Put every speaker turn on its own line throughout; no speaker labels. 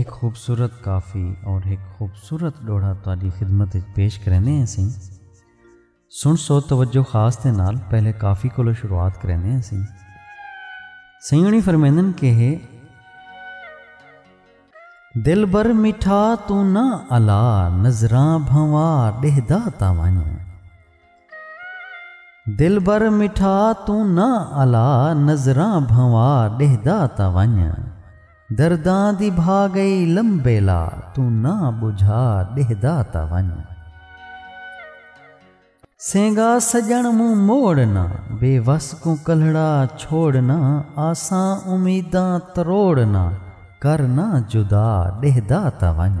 ہک خوبصورت کافی اور ہک خوبصورت ڈوہڑا تہاڈی خدمت اچ پیش کریندے ہیں اسیں۔ سن سو توجہ خاص دے نال پہلے کافی کولو شروعات کریندے ہیں اسیں۔ سئیں ہنی فرمیندن کہ ہے۔ دلبر میٹھا توں نہ الا نظراں بھنوا ڈیہدا تاں ونج۔ دلبر مٹھا توں نہ الا نظراں بھنوا ݙیہدا تاں ونڄ درداں دی بھا ڳئی لمبیلا توں نہ ٻجھا ݙیہدا تاں ونڄ سینگا سڄݨ مونہہ موڑ نہ بے وس کوں کلھڑا چھوڑ نہ آساں امیداں تروڑ نہ کر نہ جدا ݙیہدا تاں ونڄ۔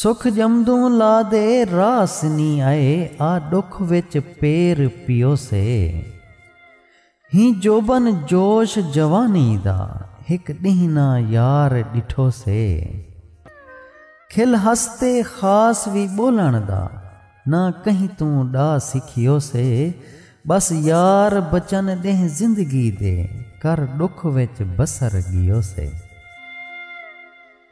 سکھ ڄمدوں لا دے راس نی آئے آ ݙکھ وچ پیر پیوسے ہیں جوبن جوش جوانی دا ہک ݙینہہ نہ یار ݙٹھوسے کھل ہس تے خاص وی ٻولݨ دا نہ کہیں توں ݙا سکھیوسے ٻس یار بچن ݙینہہ زندگی دے کر ݙکھ وچ بسر ڳیوسے۔